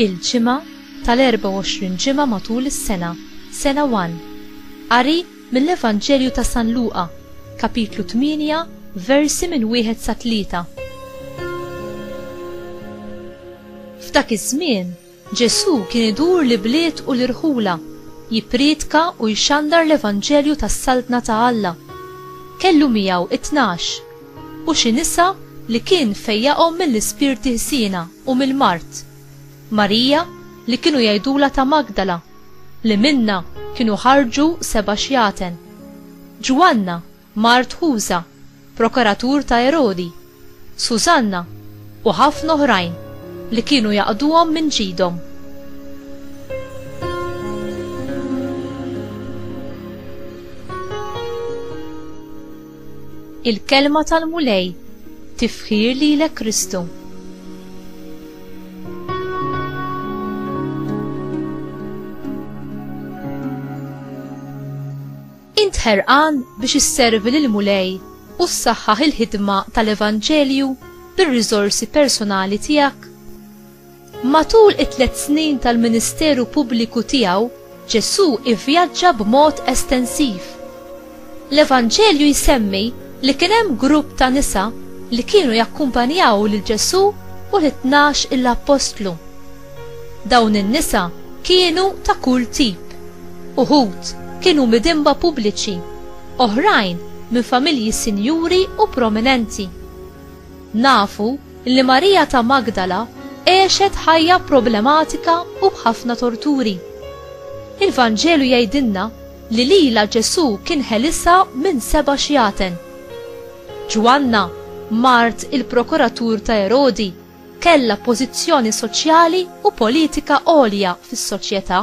il-ġimgħa tal-24 ġimgħa matul is-sena, sena 1. Qari mill-Evanġelju ta' San Luqa, kapitlu 8, versi minn wieħed sa tlieta. F'dak iż-żmien, Ġesù kien idur l-ibliet u l-irħula, jippriedka u jxandar l-evanġelju tas-Saltna ta' Alla. Kellu miegħu it-tnax, u xi nisa li kien fejjaqhom mill-ispirti ħżiena u mill-mard, Marija li kienu jgħidulha ta' Magdala, li minnha kienu ħarġu seba' xjaten, Ġwanna, mart Ħuża, prokuratur ta' Erodi, Sużanna u ħafna oħrajn li kienu jaqduhom minn ġidhom. Il-Kelma tal-Mulej, tifħir lilek Kristu. Int ħerqan biex isservi lill-Mulej u ssaħħaħ il-ħidma tal-evanġelju bir-riżorsi personali tiegħek? Matul it-tliet snin tal-ministeru pubbliku tiegħu, Ġesù ivvjaġġa b'mod estensiv. L-Evanġelju jsemmi li kien hemm grupp ta' nisa li kienu jakkumpanjaw lil Ġesù u lit-tnax-il appostlu. Dawn in-nisa kienu ta' kull tip. Uħud kienu midinba pubbliċi, oħrajn minn familji sinjuri u prominenti. Nafu li Marija ta' Magdala għexet ħajja problematika u b'ħafna torturi. Il-Vanġelu jgħidilna li lilha Ġesù kien ħelisha minn seba' xjaten. Ġwanna, mart il-prokuratur ta' Erodi, kellha pożizzjoni soċjali u politika għolja fis-soċjetà.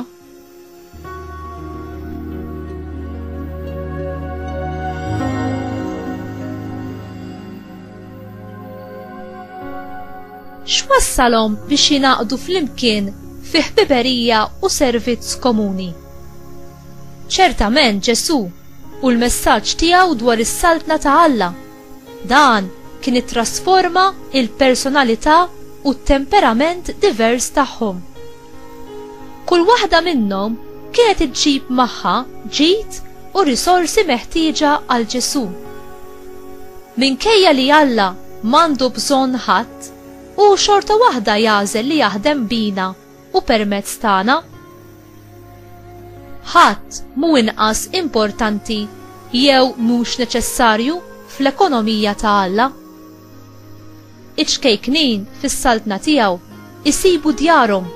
X'wassalhom biex jingħaqdu flimkien fi ħbiberija u servizz komuni? Ċertament Ġesù u l-messaġġ tiegħu dwar is-saltna ta' Alla Dan kien ittrasforma l-personalità u t-temperament divers tagħhom. Kull waħda minnhom kienet iġġib magħha ġid u risorsi meħtieġa għal Ġesù. Minkejja li Alla m'għandu bżonn ħadd, hu xorta waħda jagħżel li jaħdem bina u permezz tagħna. Ħadd mhu inqas importanti jew mhux neċessarju fl-ekonomija ta' Alla. Iċ-ċkejknin fis-saltna tiegħu isibu djarhom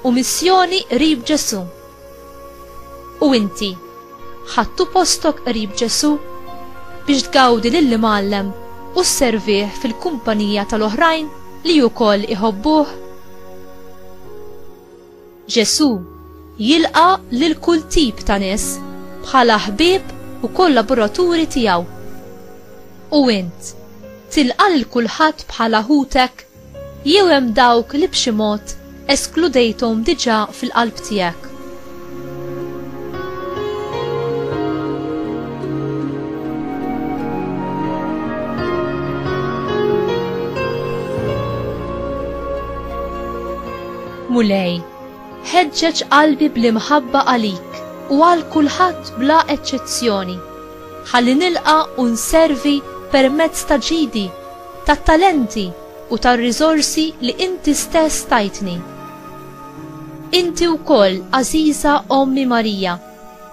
u missjoni qrib Ġesù. U inti, ħadtu postok qrib Ġesù biex tgawdi lill-Imgħallem u sservih fil-kumpanija tal-oħrajn li wkoll iħobbuh? Ġesù jilqa' lil kull tip ta' nies bħala ħbieb u kollaboraturi tiegħu. U int, tilqa' lil kulħadd bħala ħutek? Jew hemm dawk li b'xi mod eskludejthom diġà fil-qalb tiegħek? Mulej, ħeġġeġ qalbi bl-imħabba għalik u għal kulħadd bla eċċezzjoni, ħalli nilqa' u nservi permezz ta' ġidi tat-talenti u tar-riżorsi li inti stess tajtni. Inti wkoll, għażiża Ommi Marija,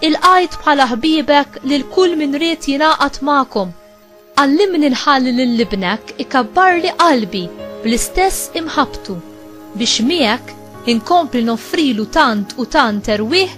ilqajt bħala ħbiebek lil kull min ried jingħaqad magħkom. Għallimni nħalli lil Ibnek ikabbarli qalbi bl-istess imħabbtu, biex miegħek inkompli noffrilu tant u tant erwieħ